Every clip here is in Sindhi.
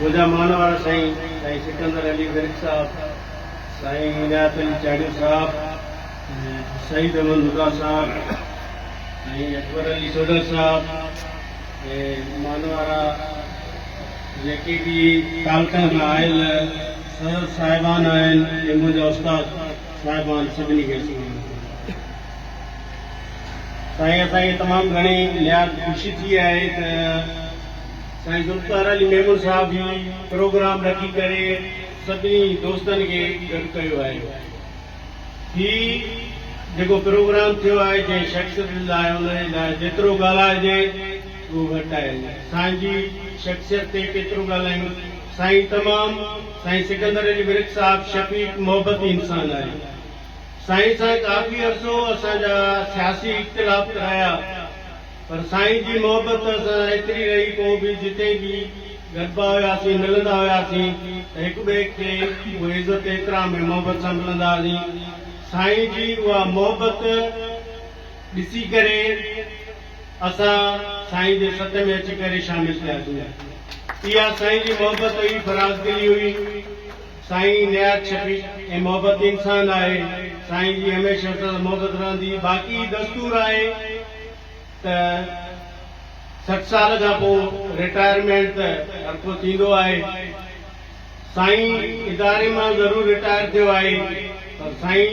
منهنجا مان وارا سائين سائين سڪندر علي ورڪ صاحب، سائين عنايت علي چاڙهيو صاحب، سعيد احمد مدعا صاحب، سائين اڪبر علي سوڍل صاحب ۽ مان وارا جيڪي به تعلقن کان آيل سر صاحبان آهن ۽ منهنجا استاد صاحبان سڀني کي السلام عليڪم. سائين اسان کي تمام گهڻي نهايت خوشي ٿي آهي ته سائين ذوالفقار علي ميمڻ صاحب هي پروگرام رکي ڪري سڀني دوستن کي گڏ ڪيو آهي هي جيڪو پروگرام ٿيو آهي جنهن شخصيت لاء ان جي لاء جيترو ڳالهائجي اهو گهٽ آهي سائين جي شخصيت تي ڪيترو ڳالهايون سائين تمام سائين سڪندر علي ورڪ صاحب شفيق محبتي انسان آهي. سائين سان ڪافي عرصو اسان جا سياسي اختلافت رهيا پر سائين جي محبت اسان سان ايتري رهي پوء به جتي به گڏبا هياسين ملندا هياسين ته هڪ ٻئي کي اهي عزت احترام ۽ محبت سان ملندا هئاسين سائين جي اها محبت ڏسي ڪري اسان سائين جي سٿ ۾ اچي ڪري شامل ٿياسين اها سائين جي محبت هئي فرازدلي هئي. سائين نهايت شفيق ۽ محبت انسان آهي سائين جي هميشه اسان سان محبت رهندي باقي دستور آهي ته سٺ سال کان پو رٽائرمينٽ ته هر ڪو ٿيندو آهي سائين اداري مان ضرور رٽائر ٿيو آهي پر سائين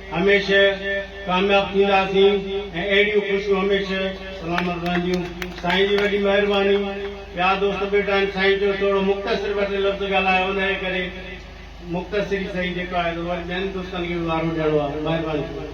هميشه ڪامياب ٿينداسين ۽ اهڙيون خوشيون هميشه سلامت رهنديون سائين جي وڏي مهرباني ٻيا دوست ٻيٽا آهن سائين چيو ٿورو مختصر ٻه ٽي لفظ ڳالهايو انهيء ڪري مختصر ئي سهي جيڪو آهي سو وري ٻين دوستن کي به وارو ڏيڻو آهي مهرباني ٿيندي.